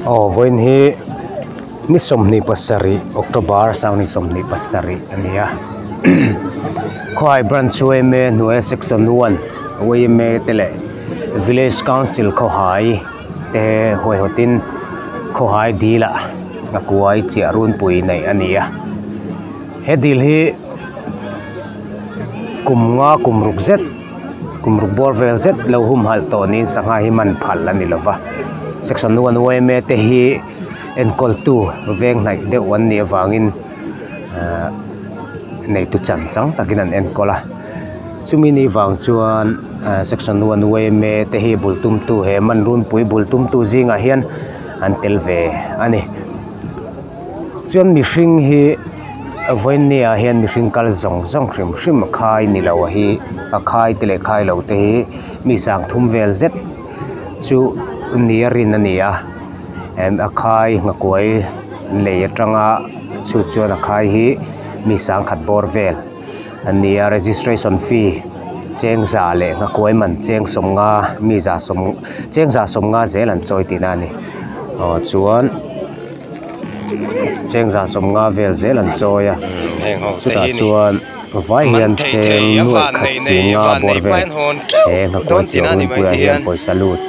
Aw vawiin hi ni sawmhnih pasarih october sang ni sawmhnih pasarih a ni a khuaihai branch chu yma hnuaia section one yma te leh village council khawhai te huaihotin khawhai dilah a kuaii chiah runpui neih a ni a he dil hi kum nga kum ruk zet-- kum ruk buar vel zet lo humhalh tawh niin sangha hi man phalh a ni lo va section one yma te hi enkawl tu veng hnaih deuh an nih avangin ehh neitu chan chang takin an enkawl a chumi ni vang chuan ehh section one yma te hi bul tum tu he man runpui bul tum tu zingah hian an tel ve a ni chuan mihring hi-- vawinia hian mihring kal zawng zawng hrim hrim a khai ni lo hi a khai te leh khai lo te hi mi sang thum vel zet chu ni a rin a ni a em a khai a hnakuai lei atanga chhut chuan a khai hi mi sang khat bawr vel a ni a registration fee chengza leh hnakuai man cheng sawmnga miza sawm chengza sawmnga zel an chawi tihna a ni aw chuan-- chengzah sawm nga vel zel an chawi a chutah chuan vai hian cheng nuaih khat si nga bawr vel he hnakuan chhiah hun puiah hian pawisa lut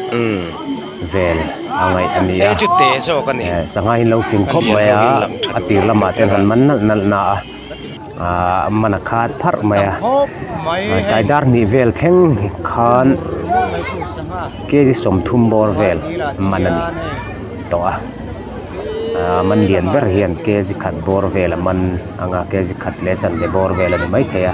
vel a ngaih a ni a sanghaiin lo fing khawp mai a a tir lamah te an han man nalh nalh na a. ahh man a khat pharh mai a kai dar hnih vel thleng khan K G sawmthum bawr vel man a ni tawh a ahh man lian ber hian K G khat bawr vel a man ang a K G khat leh chanve bawr vel a ni maithei a.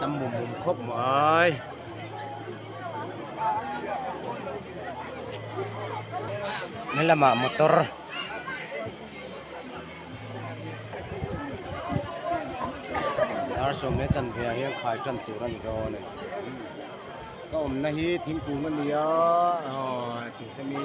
Tam mum mum khawp mai. Ni lama motor. Dar som le chan ve a hian khai tan tur ani ka awle. Ka awmna hi thingkung ania. Aw, thing semi.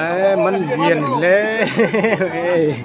Eee man lian hle mai.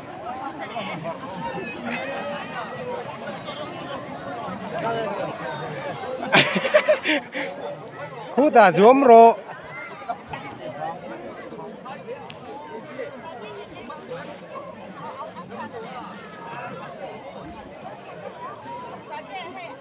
Khuda zuam rawh.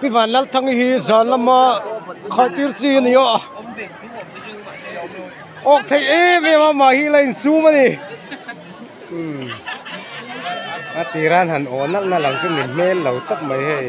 Pivan Lalthangi hi zan lama khawntir chi a ni a awk theih em em a mah hi a la insum a ni a tir a han aw nalh nalh ang chu ni hmel lo tak mai hei.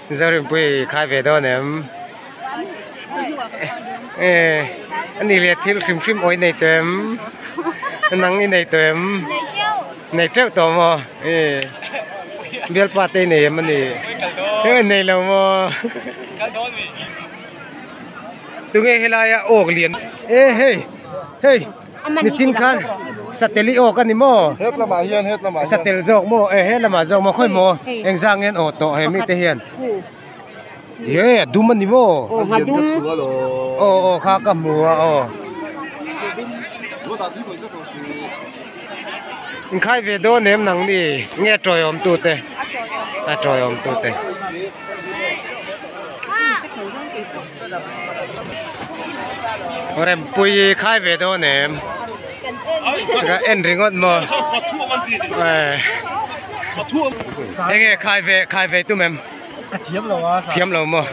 Zauripuii hi khai ve dawn em a nih leh thil hrim hrim awi nei tawh em a nang i nei tawh em nei teuh tawh maw bialpa te i nei em a nih a nei lo maw tunge helai a awk lian e hei hei. Nichin khan satel i awk a ni maw? Hetlamah hian hetlamah hian. Satel zawk maw e helamah zawk maw khawi maw engzang ngen aw tawh he mite hian. He a dum a ni maw? Aw ngha dum. Aw aw kha ka hmu a aw. Inkhai ve dawn em nang ni nge tawi awm tu te a tawi awm tu te. rempuii khai ve dawn em ka en ringawt maw eng nge khai ve khai ve tum em thiam lo a thiam lo maw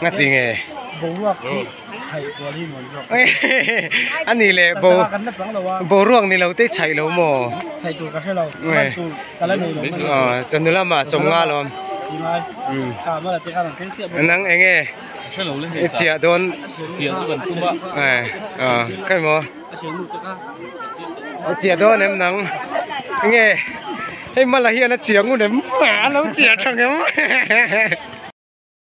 ngati nge boruak hi chhai kual hi nuam zawk a ni leh bo boruak ni lo te chhai lo maw chhai tur ka hrelo man tur chanu lama sawm nga lawm nang eng nge i chiah dawn ka emaw i chiah dawn em nang eng nge hei mal ah hian a chiah ngun em a lo chiah thang em.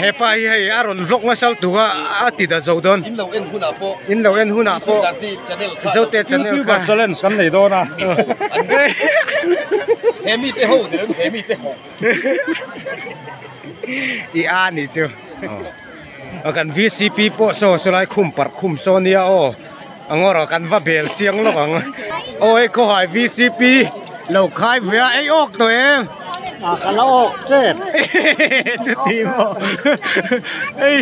hepa hi hei a rawn vlog nasa altu kha a ti ta zo dawn in lo en hunah pawh in lo en hunah pawh zote channel kha challenge kan nei dawn a he mi te ho tirang he mi te ho i a ni chu a kan vcp pawh saw saw lai khum parh khum saw nia aw Angoraw kan va bel chiang lawk ang aw hei khawhai VCP lo khai via ei awk tawh em a ka la awk tep chuti maw ei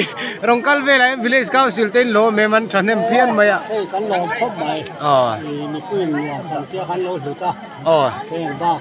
rawn kal velah hian village council te in lawm em an thahnem phian mai a hei kan lawm khawp mai aw nipui in nuam tham chiang khan lo hlut a aw heng bak.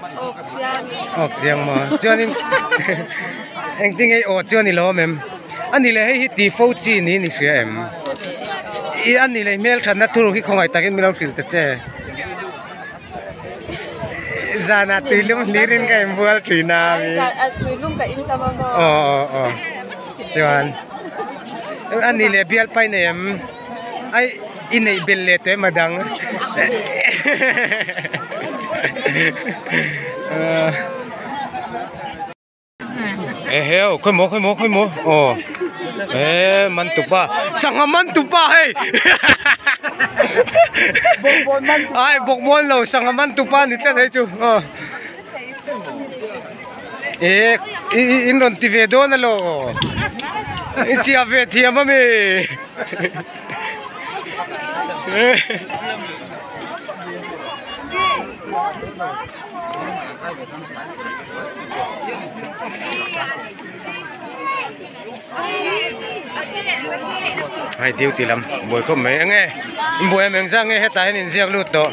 Awk chiang e. Awk chiang maw? Chuanin engtin nge aw chu a ni lo awm em? A ni leh hei hi ti fo chi niin i hria em? I a ni leh hmel thatna tur hi khawngaih takin min lo hrilh ta che. Zanah tuilum hlir in ka inbual thin a. Tuilum ka intam a maw? Aw aw aw. Chuan a ni leh bialpai nei em? I neih bel leh teh emaw dang eheu khawih maw khawih maw khawih maw aw ehh man tupa sangha man tupa hei bawkbawn man tupa ai bawkbawn lo sangha man tupa ni tlat hi chu aw. Eek ih in rawn ti ve dawn a law i chiah ve thiam ami hei duty lam buai khawp mai eng nge in buai em eng zang nge hetah hian in ziak lut tawh.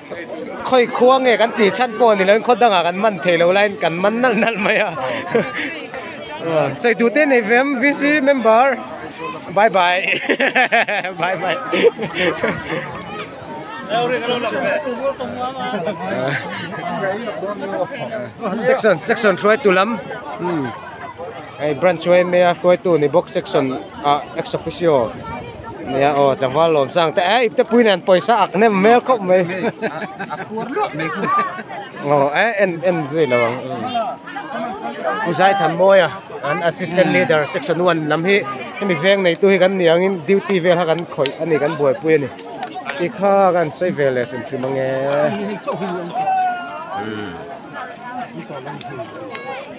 Khawi khua nge kan tih chhan pawh ni loin khaw dangah kan man thei lo laiin kan man nalh nalh mai a. Saitute nei fem VC member bye bye bye bye section section hruai tu lam. Hei branch chu hei mai a hruaitu ni bawk section ah ex officio nia aw tlangval lawm chang te ai ipte puiin an pawisa ak nem hmel khawp mai a khuar luak mai hun aw a en en zui lo ang pu zaithan mawia an assistant leader section one lam hi hemi veng neitu hi kan niang in duty vel kha kan khawih a ni kan buaipui a ni ti kha kan sawi ve leh hrim hrim ange.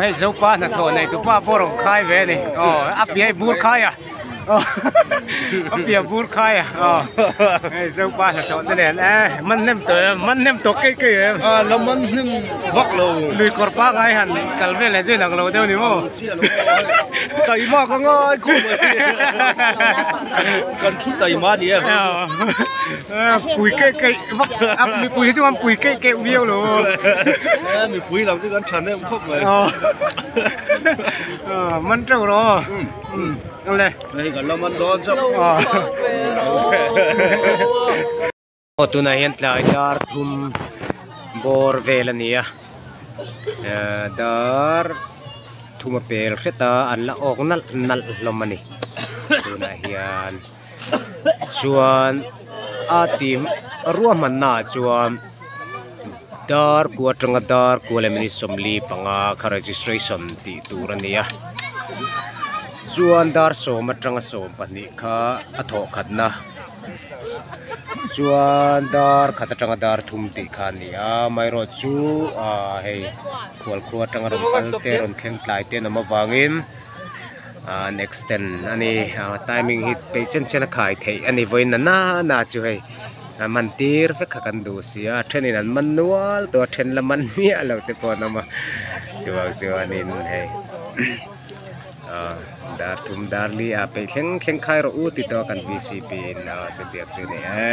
Hei zopa hnathawh nei tu pa pawh rawn khai ve a ni, aw a piahi bur khai a, a piah bur khai a, hei zopa hnathawh te nen e, man hnem tawh em, man hnem tawh kei kei em, a la man hnem vak lo, lui kawr pangai han kal veleh chu inang lo deuh a ni maw, taima ka ngai khawp mai, kan thu taima a ni em. Pui kei kei vak mipui hi chuan pui kei kei viau lo mipui lo chu kan tha neuh khawp mai man teuh lo le hei kan lo man dawn chauh aw tunah hian tlai dar thum bawr vel a ni a dar thuma pel hriat a an la awk nalh nalh hlawm a ni tunah hian. chuan a ti ruah hman na ah chuan dar ku atanga dar ku lem in sawmli panga kha registration tih tur a ni a chuan dar sawm atanga sawm pahnih kha a thawh khat na chuan dar khat atanga dar thum tih kha a ni a amaherawhchu chu ahh hei khualkhrua atanga rawn kal te rawn thleng tlai te an awm avangin-- An extend a ni a timing hi pei chen chen a khai theih a ni vawi nana na chu hei an man tir vek kha kan duh si a a thenin an man nual tawh a then la man miah lo te pawh an awm a chuvang chuanin hei ah dar thum dar li ah peih thleng thleng khai rawh u ti tawh a kan bcp in ah chutiang chu ni e.